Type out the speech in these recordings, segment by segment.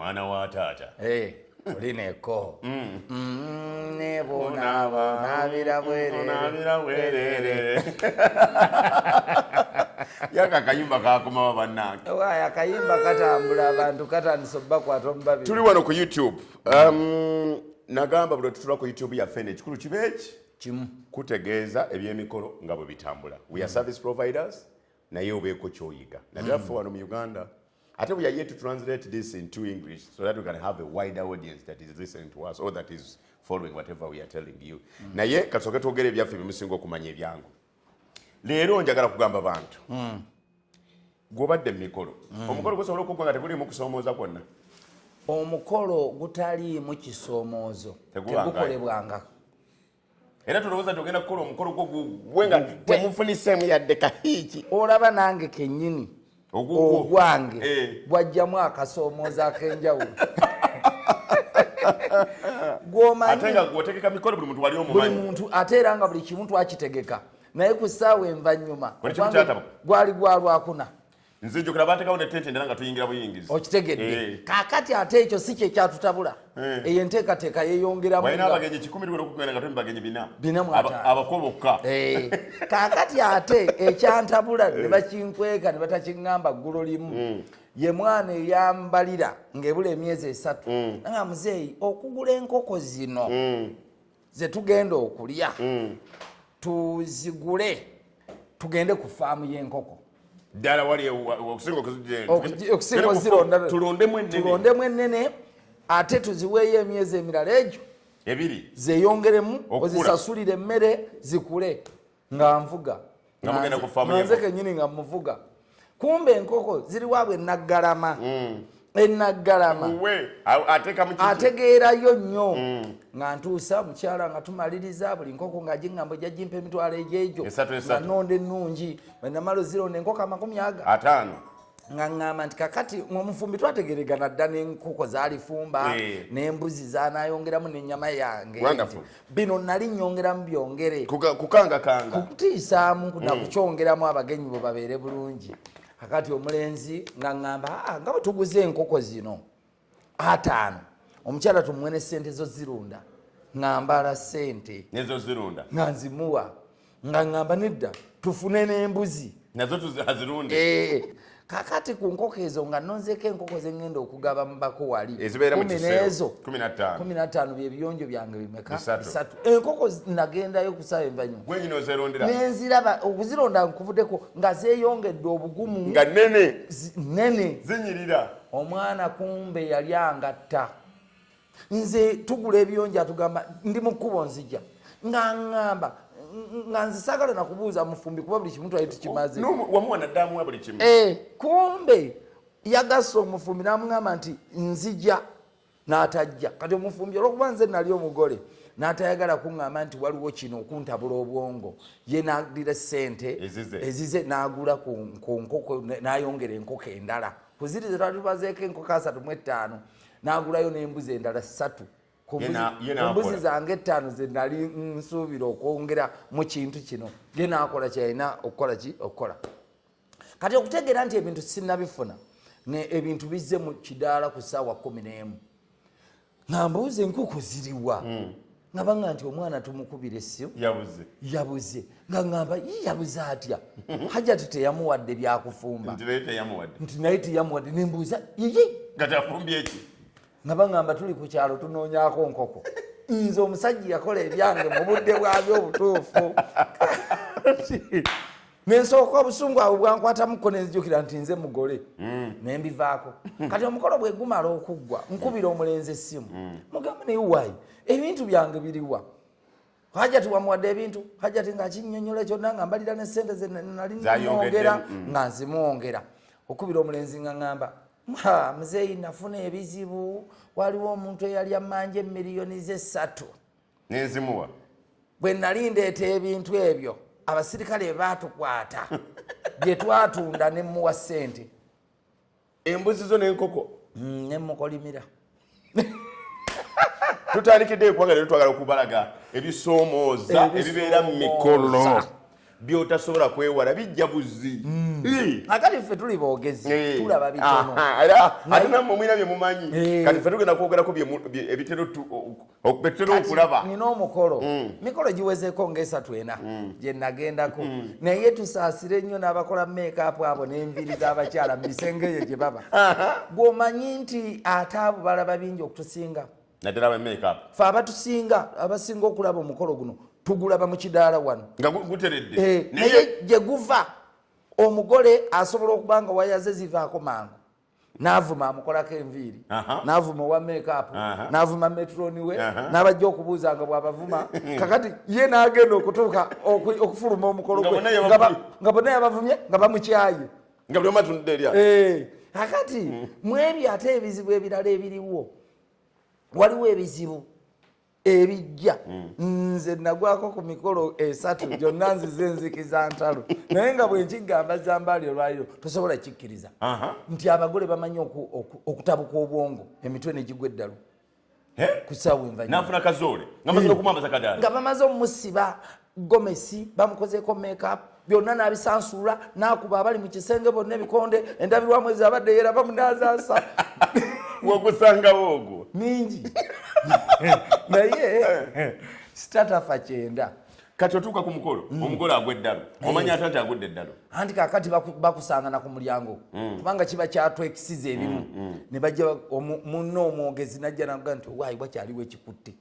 mwana wa taata hey. olineko mm. mm, nebonabonabira bwerere yaka akayimba kakomawo bannange waaya akayimba katambula abantu katandisa obubakwata omubabiri tuli wano ku youtube um, nagamba buli otutula ku youtube yaffe ne ekikulu kiba eki kimu kutegeeza ebyemikolo nga bwe bitambula we are mm. service providers naye obeeko kyoyiga naddala ffe wano mu uganda ate we are yet to translate this into english so that we can have a wider audience that is listening to us or that is following whatever we are telling you mm. naye kasooke twogere ebyaffe byemusinga okumanya ebyangu leero njagala kugamba bantu mm. gwobadde mumikolo mm. omukolo gusobola okugwa nga teguliimu kusoomooza kwonna omukolo gutaliimu kisoomoozo tegukolebwangako era tolowooza nti ogenda kukola omukolo gwo gugwe nga temufuniseemu yadde kahiiki olaba nange kenyini ogwange eh. gwajjamu akasoomooza akenjawulo buli muntu ate era nga buli kimu twakitegeka naye ku ssaawa envanyuma gwali gwalwakuna nze njogera baatekawo ne tente ndala nga tuyingira buyingizi okitegedde eh. kakati ate ekyo si kye kyatutabula eh. eyo enteekateeka yeyongeramu walina abagenyi kikumi liwera okugenda nga tuli bagenyi bina bina mwata abako bokka eh. kakati ate ekyantabula ne bakinkweka ne batakiŋŋamba ggulo limu hmm. ye mwana eyambalira ng'ebula emyezi esatu hmm. nga muzeeyi okugula enkoko zino hmm. zetugenda okulya mm. tuzigule tugende ku faamu y'enkoko ddala wali okusingaokuzirondatuloondemu ennene ate tuziweeyo emyezi emirala egyo ebiri zeyongeremu ozisasulire emmere zikule nga nvuga nze kenyini nga muvuga kumbe enkoko ziri wabwe naggalama mm. enaggalama ategeerayo nnyo mm. nga ntuusa mukyala nga tumaliriza buli nkoko nga giŋŋambo ejja gimpa emitwalo egyejo nga nonda ennungi enamala ozironda enkoko amakumi aga ataano nga ŋŋamba nti kakati omufumbi twategeregana dda n'enkoko zalifumba eh. n'embuzi zanayongeramu n'ennyama yange bino nali nyongeramu byongere kukangakanga kukutiisaamu mm. nakukyongeramu abagenyi bwe babeere bulungi kakati omulenzi nga ŋŋamba ah, nga bwe tuguze enkoko zino ataano omukyala tumwene sente zo zirunda ng'ambala sente nezo zirunda nga nzimuwa nga ŋŋamba nedda tufune n'embuzi nazo tuzirunde eh, kakati ku nkoko ezo nga nonzeeko enkoko ze ŋŋenda okugaba mu bako wali kumi n'ezo kumi na ttaano bye biyonjo byange bimeka bisatu enkoko nagendayo kusaawa envanyuma gwenyina ozerondera nenziraba okuzironda nkuvuddeko nga zeeyongedde obugumu nga nene nene zinyirira omwana kumbe yali angatta nze tugula ebiyonjo atugamba ndi mu kkubo nzija nga ŋŋamba nga nze saagala nakubuuza mufumbi kuba buli kimu twali tukimaze eh, kumbe yagasa omufumbi n'amugamba nti nzija n'atajja kati omufumbi olwokuba nze nali omugole natayagala kuŋŋamba nti waliwo kino okuntabula obwongo ye nadira sente ezize n'agula ku nkoko n'ayongera enkoko endala kuziri zetwali tubazeeko enkoko asatu mu ettaano n'agulayo n'embuzi endala ssatu ku mbuzi zange ettaano ze nali nsuubira okwongera mu kintu kino ye n'akola kyeyalina okukola ki okukola kati okutegeera nti ebintu sinabifuna ebintu bizze mu kidaala ku ssaawa kumi n'emu nga mbuuza enkuku ziriwa hmm. nga banga nti omwana tumukubira essimu yabuze yabuze nga ngamba yi yabuze atya hajati teyamuwadde byakufumba nti naye teyamuwadde nembuuza yiyi nga tafumbye ki nga bangamba tuli ku kyalo tunoonyako nkoko nze omusajja yakola ebyange mu budde bwabyo obutuufu nensooka obusungu abwe bwankwatamuko nenzijukira nti nze mugole mm. nembivaako kati omukolo bwegumala okuggwa nkubira omulenzi essimu mm. mugamba naye wayi ebintu byange biriwa hajati wamuwadde ebintu hajati ngakinyonyola kyonna nga mbalira nesente zenalinamwongera mm. nga nzimwongera okubira omulenzi nga ngamba muzeeyi nafuna ebizibu waliwo omuntu eyali amanja emiliyoni zesatu nenzimuwa bwe nali ndeeta ebintu ebyo abasirikale bebaatukwata bye twatunda ne muwa ssente embuzi zo n'enkoko mm, ne mukolimira tutandikidde ekwagala twagala okubalaga ebisoomooza ebibeera mu mikolo byotasobola kwewala bijja buzzi mm. akati ffe tuli bogezi tulaba bitonoatenamumwina byemumanyi kati ffe tugenda kwogerako ebitera okulaba nina omukolo mm. mikolo giwezeko ngaesatu ena mm. gyenagendako naye tusaasire nnyo n'abakola meekaapu abo n'enviri z'abakyala mu bisenge eyo gye baba gwomanyi nti ate abo balaba bingi okutusinga naddala ba makeup fe abatusinga abasinga okulaba omukolo guno tugulaba mu kidaala wano nga guteredde eh, naye gye guva omugole asobola okuba nga wayaze zivaako mangu navuma amukolako enviiri navuma owa makeup navuma metroni we nabajja okubuuza nga bwabavuma kakati ye nagenda okutuuka okufuluma omukolo gwe nga bonna yabavumye nga bamukyaye nga buli omatunudde erya eh, kakati mwebyo ate ebizibu ebirala ebiriwo waliwo ebizibu ebijja hmm. nze nagwako ku mikolo esatu gyonna nzize nzikiza ntalo naye nga bwenkigamba zambaali olwaliro tosobola kikkiriza nti abagole bamanyi okutabuka obwongo emitwe negigwa eddalu kusawunvanyuma nafuna kazoole nga maze eh. okumwambaza kadaala nga bamaze omusiba gomesi bamukozeeko makeup byonna nabisansuula nakuba abali mu kisenge bonna ebikonde endabirwamu ezo abadde yera bamunazasa wakusangawo ogwo mingi naye sitatafa kyenda kati otuuka ku mukolo mm. omugole agwa eddalu mm. omanya ate nti agudde eddalu anti kakati bakusangana ku mulyango mm. kubanga kiba kyatwekisiza ebimu ne bajja munna omwogezi najja naga nti wayi wakyaliwo ekikutte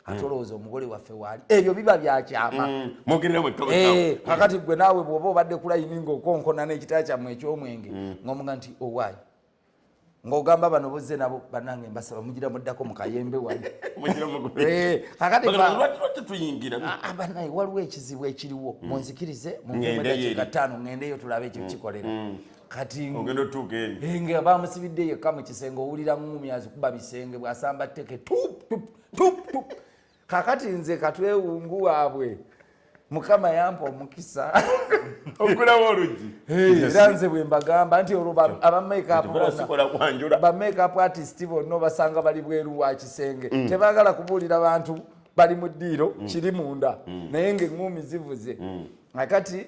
ate hmm. olowooza omugole waffe waali ebyo biba byakyama hmm. eh, kakati gwe naawe bwoba obadde kulayini ngaokonkona n'ekitala kyammwe ekyomwenge hmm. ngaomuga nti owaayi oh, ngaogamba bano bozze nabo banange mbasaba mugira muddako mukayembe wanebanaye eh, ah, ah, waliwo ekizibu ekiriwo munzikirize mumwemwedakikatano ngendeyo tulabe ekyo kikolera kati ogenda otuuka eyo eh, nga bamusibidde yekka mu kisenge owulira ngumi azikuba bisenge bwasamba teke tup kakati nze katwewungu waabwe mukama yampa omukisa okulawo olugi era nze bwe mbagamba nti olwo abamakeup artist bonna obasanga bali bweru wa kisenge mm. tebagala kubuulira bantu bali mu ddiiro mm. kiri munda mm. naye ngaeŋumi zivuze akati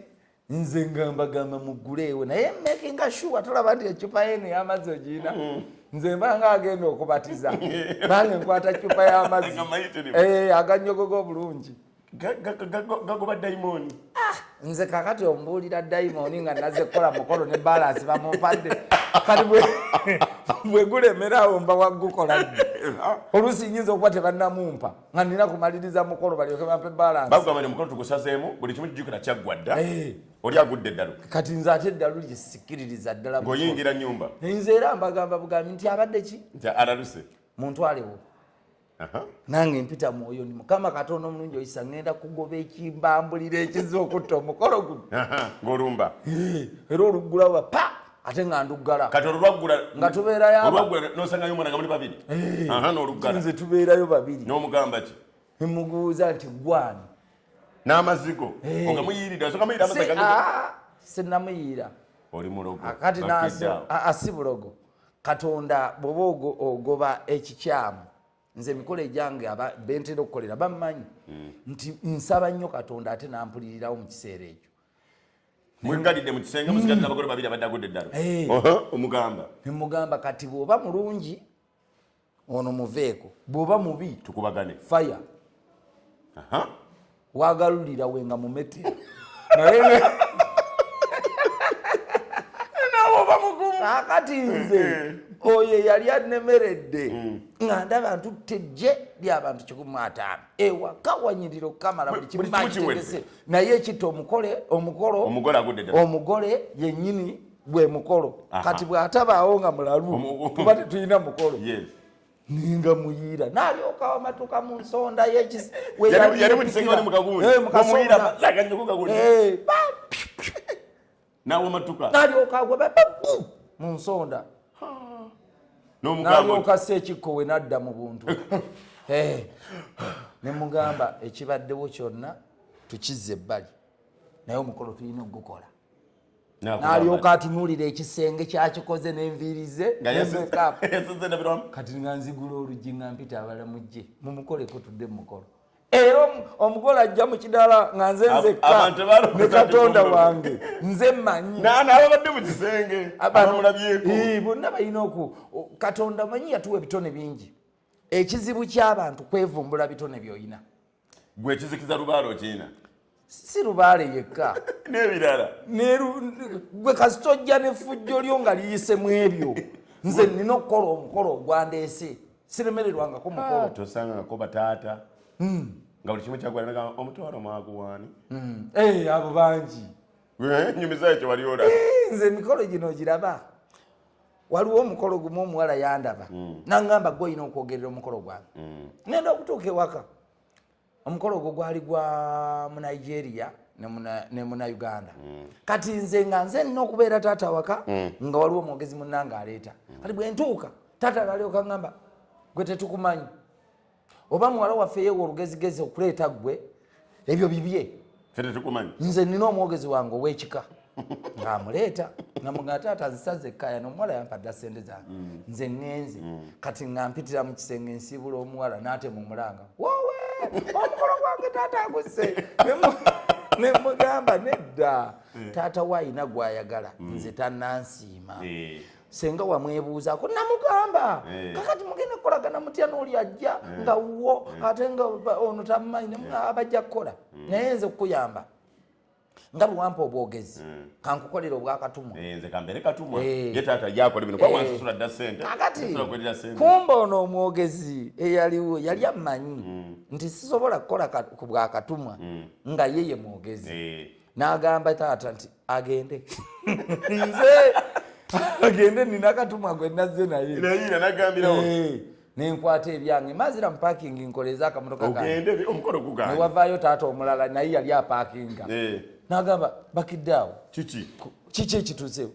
nze nga mbagamba muguleewo naye makinga sure tolaba nti ecupa yeno yamazzi ogirina mm. nze mbanga agenda okubatiza nange nkwata cupa yamazzi eh, aganyogoga obulungi gagoba daimoni ah, nze kakati ombuulira daimoni nga naze kukola mukolo ne balansi bamumpadde kati bwegulemerawo mba waggukola oluusi nyinza okuba tebanamumpa nga nina kumaliriza mukolo balyoke bampe balance bagwa bali mukolo tugusazeemu buli kimu kijukira kyaggwa dda eh. oli agudde eddalu kati nze ate eddalu lyesikiririza ddala ng'oyingira nyumba nze era mbagamba bugambi nti abadde ki nti alaluse muntwalewo nange mpita mwoyo ni mukama katonda omulungi oyisa ngenda kugoba ekimbambulira ekiza okutta omukolo guno ng'olumba eh, era oluggulawo pa ate nga nduggala kati olwaggula nga tubeerayo olwaggula nosangayo omwana nga muli babiri eh, aha n'oluggala nze tubeerayo babiri n'omugamba ki emuguuza nti gwani n'amazigo eh. nga muyiirira soka muyiira amazigo ah, sinamuyiira oli mulogo kati nasi asi ah, ah, bulogo katonda bwoba ogoba ekikyamu nze emikolo egyange bentera okukolera bammanyi hmm. nti nsaba nnyo katonda ate nampulirirawo mu kiseera ekyo mwegalidde mu kisenge musigadde hmm. abagole babiri abadde agudde eddalo eh. omugamba nemugamba kati bwoba mulungi ono muveeko bwoba mubi tukubagane fire wagalulira we nga mumete naye kakati nze eh. oyo yali anemeredde mm. nga ndaba ntutte jje lyabantu kikumi ataano ewaka wanyirira okukamala buli kimumakitegese naye ekita omukole omukolo omugole yenyini gwe mukolo kati bwatabaawo nga mulalu kuba tetulina mukolo ninga muyira nalyoka wamatuka mu nsonda yewamatukamu mu nsonda nalyoka si ekikkowe nadda mu buntu eh. ne mugamba ekibaddewo kyonna tukize ebbali naye omukolo tulina okugukola nalyoka atunulira ekisenge kyakikoze nenviiri ze kati nga nzigula oluggi nga mpita abala mujje mumukoleko tudde mumukolo era omugole ajja mu kidala nga nze nzekka ne katonda wange nze manyi nababadde mu kisenge abamulabyeko bonna balina oku katonda manyi yatuwa ebitone bingi ekizibu ky'abantu kwevumbula bitone byolina gwe ekizikiza lubaale okiina si lubaale yekka n'ebirala gwe kasita ojja n'effujjo lyo nga liyise mu ebyo nze nina okukola omukolo ogwandeese siremererwangako mukolo ah, tosangangako bataata hmm. nga buli kimu kyagwanaa omutwalo mwaguwaani hmm. eh, abo bangi eh, nyumiza ekyo wali ola eh, nze emikolo gino giraba waliwo omukolo gumu omuwala yandaba mm. nangamba gwe olina okwogerera omukolo gwange mm. ngenda okutuuka ewaka omukolo ogwo gwali gwa munigeria ne muna uganda mm. kati nze nga nze nina okubeera taata waka mm. nga waliwo omwogezi munange aleeta mm. kati bwentuuka taata nalyoka ngamba gwe tetukumanyi oba muwala waffe yewa olugezigezi okuleeta gwe ebyo bibye nze nina omwogezi wange owekika ngaamuleeta ngamuga taata zisaza ekkaya nomuwala yampadda sente zange mm. nze ŋŋenze mm. kati nga mpitira mu kisenge nsiibula omuwala naate mu mulanga wowe omukolo gwange taata aguse nemugamba nedda eh. taata waayina gwayagala mm. nze tanansiima eh. senga wamwebuuzaako namugamba eh. kakati mugenda kukolagana mutya nooli ajja eh. nga wuwo eh. ate nga ono tamumanyi abajja kukola hmm. naye nze kukuyamba nga bwewampa obwogezi hmm. kankukolera obwakatumwa kakati kumba ono omwogezi eyaliwo yali amanyi hmm. nti sisobola kukola ku bwakatumwa nga ye ye mwogezi n'agamba taata nti agende nze agende nina katumwa gwe nazze naye eh, nenkwata ebyange mazira mupakingi nkoleze akamotoka kanewavaayo taata omulala naye yali apakinga eh. nagamba bakidde awo kiki ekituze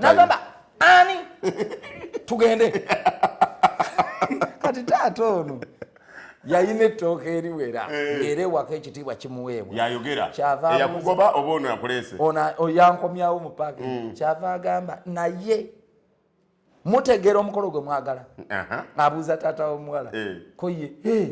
nagamba ani tugende kati taata ono yalina ettooka eriwera eh. era ewaka ekitiibwa kimuweebwa yayogera eyakugoba oba ono yakuleese ono yankomyawo mu paaki mm. kyava agamba naye mutegeera omukolo gwe mwagala abuuza taata womuwala eh. koye eh.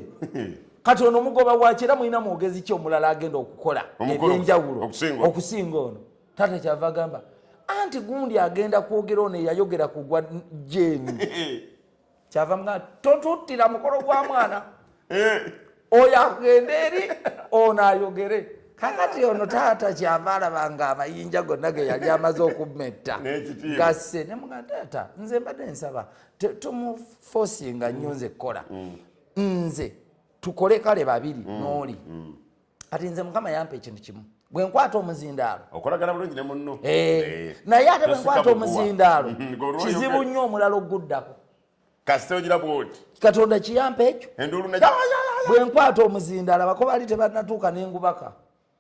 kati ono omugoba waki era mulina mwogezi ki omulala agenda okukola ebyenjawulo okusinga ono taata kyava agamba anti gundi agenda kwogera ono eyayogera kugwa jeeni kyava mga totuttira mukolo gwa mwana eh. oyo agende eri ono ayogere kakati ono taata kyava alaba nga amayinja gonna ge yali amaze okumetta gasse ne mga taata nze mbadde nsaba tumufosinga nnyo nze kukola mm. nze tukole kale babiri mm. nooli mm. kati nze mukama yampa ekintu kimu bwe nkwata omuzindaalo okolagana bulungi ne munno eh, eh. naye ate bwe nkwata omuzindaalo mm-hmm. kizibu nnyo omulala oguddako kasita ogira bwoti katonda kiyampa ekyo bwe nkwata omuzindaalo bako baali tebanatuuka nengubaka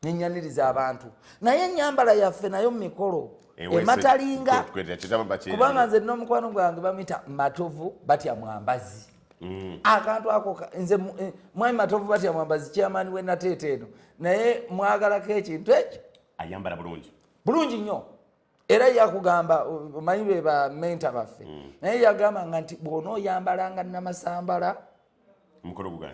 nenyaniriza abantu naye enyambala yaffe nayo mumikolo ematalinga kubanga nze nomukwano gwange bamita matovu batya mwambazi Mm. akantu ako nze eh, mwami matovu batya mwambazi chairman we nateeta eno naye mwagalako ekintu ekyo ayambala bulungi bulungi nnyo era yakugamba omanyi be ba menta baffe mm. naye yagamba nga nti bwona oyambala nga namasambala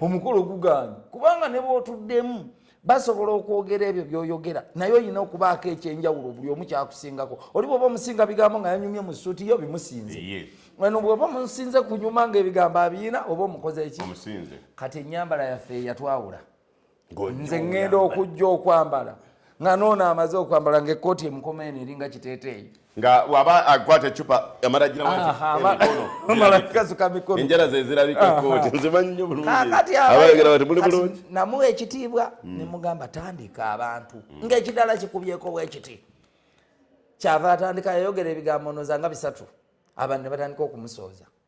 omukolo gugaanyi kubanga ne bwotuddemu basobola okwogera ebyo byoyogera naye olina okubaako ekyenjawulo buli omu kyakusingako oli bwoba omusinga bigambo nga yanyumye mu suuti yo bimusinze eno bwoba omusinze kunyuma nga ebigambo abiyina oba omukoze eki kati enyambala yaffe eyatwawula nze ŋŋenda okujja okwambala nga noona amaze okwambala ngaekkooti emukoma eno eringa kiteeteeyi nga waba akwata ecupa amalagiraenjala ah, zezirabikakooti nzimanyi nyo bulungiabayogera bati muli bulungi namuwa ekitiibwa hmm. nemugamba tandika abantu hmm. ngaekidala kikubyeko bwekiti kyava atandika yayogera ebigambo noza nga bisatu abantu ne batandika okumusooza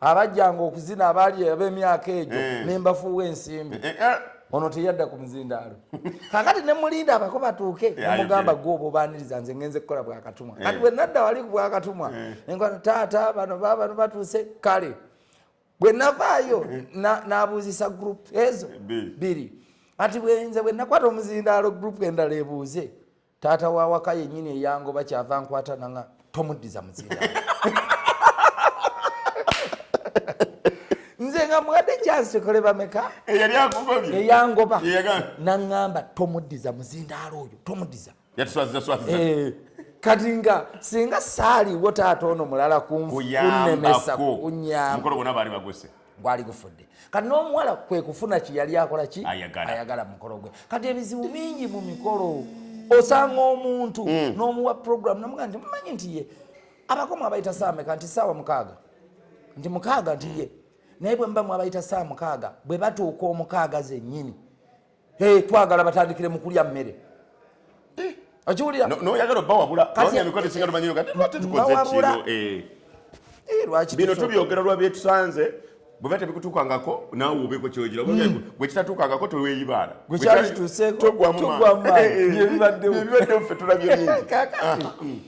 abajjanga okuzina abaali ab'emyaka egyo eh. ne mbafuuwa ensimbi eh, eh, ono teyadda ku muzindaalo kakati ne mulinda abako batuuke nemugamba gwe oba obaniriza nze ngenze kukola bwakatumwa kati bwe nadda wali ku bwakatumwa enkwano taata bano babano batuuse kale bwe navaayo nabuuzisa group ezo biri kati bwenze bwe nakwata omuzindaalo group endala ebuuze taata wawaka yenyini eyangoba kyava nkwata nanga tomuddiza muzinda nze nga mwadde kyansi kole bameka eyangoba naŋamba tomuddiza muzindaalo oyo tomuddiza eh, kati nga singa saaliwo taata ono mulala kunnemesa kunyamba gwali gufudde kati n'omuwala kwe kufuna ki yali akola ki ayagala mukolo gwe kati ebizibu bingi mu mikolo osanga omuntu mm. n'omuwa programu namuga nti mumanyi nti ye abakomu abayita saameka nti saawa mukaaga nti mukaaga nti ye naye bwe mbamu abayita saa mukaaga bwe batuuka omukaaga zennyini Hey, twagala batandikire mu kulya mmere eh, okiwulira noyagala obawabula emikolo esinga tumanyiyo kati lwaki tukoze kino eh. Eh, bino tubyogera lwabyetusanze bweba tebikutuukangako naawe obeeko kyogira hmm. gwe kitatuukangako teweyibaala gwekyalituseebibaddewo ffe tulabye bingi ah, hmm.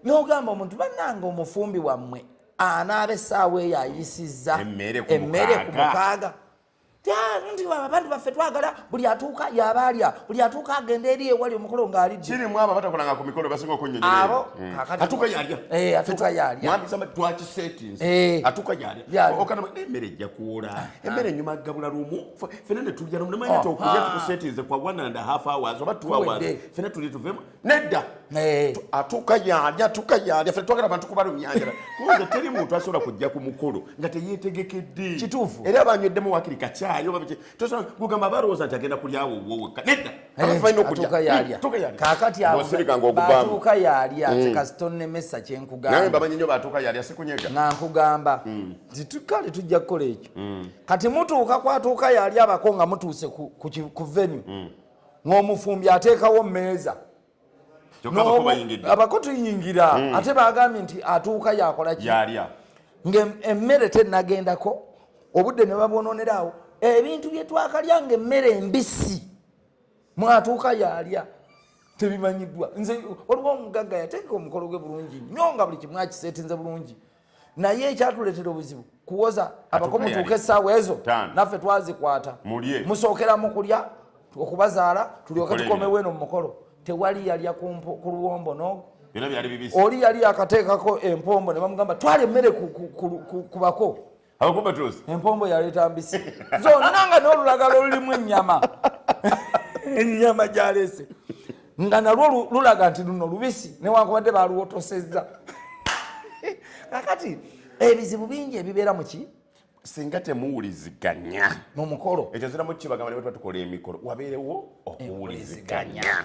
nogamba omuntu banange omufumbi wammwe anaaba essaawa eyo ayisizza emmere ku mukaaga abantu baffe twagala buli atuuka yaba alya buli atuuka agenda eri ewali omukolo ng'aliddirimu abo abatakolanga ku mikolo basinga okunyonyoatuuka hmm. yalya eh, atuuka yalyamwambisama twaki settings eh. atuuka yalya okana emmere ejja kuwola ah, ah. emmere enyuma gabula lumu fena ne tulya lumu namanya oh, ti okulya ah. tukusettinze kwa one and a half hours oba two hours fena tuli tuvemu nedda eh. atuuka yaali atuuka yaali affe twagala abantu kubalumyanjala kuze teri muntu asobola kujja ku mukulu nga teyetegekedde kituufu era abanyweddemu wakiri kakyayi gugamba balowooza nti agenda kulyawo woweka nedda eh, abafaina okujakakatiatuuka yaalya mm. tekasitonemesa kyenkugamba bamanyi nyo batuuka yaalya sikunyega nga nkugamba mm. nti kale tujja kukola ekyo mm. kati mutuuka kwatuuka yaalya abako nga mutuuse ku venue ng'omufumbi ateekawo mmeeza abako tuyingira hmm. ate bagambye nti atuuka yakolaki ng'emmere tenagendako obudde ne babwononeraawo ebintu bye twakalya ng'emmere embisi mwatuuka yalya tebimanyiddwa nze waliwo omugagga yateeka omukolo gwe bulungi nyo nga buli kimu akiseetinze bulungi naye ekyatuletera obuzibu kuwoza abako mutuuka essaawa ezo naffe twazikwata musookera mu kulya okubazaala tulyoke tukomewo eno mu mukolo tewali yalya ku luwombo nogo oli yali yakateekako empombo ne bamugamba twala emmere ku bako empombo yaleeta mbisi zonna nga n'olulagala olulimu ennyama ennyama gyaleese nga nalwo lulaga nti luno lubisi newankubadde baluwotosezza kakati ebizibu bingi ebibeera muki singa temuwuliziganya mumukolo ekyo ziramu kibagamba nebatwa tukola emikolo wabeerewo okuwuliziganya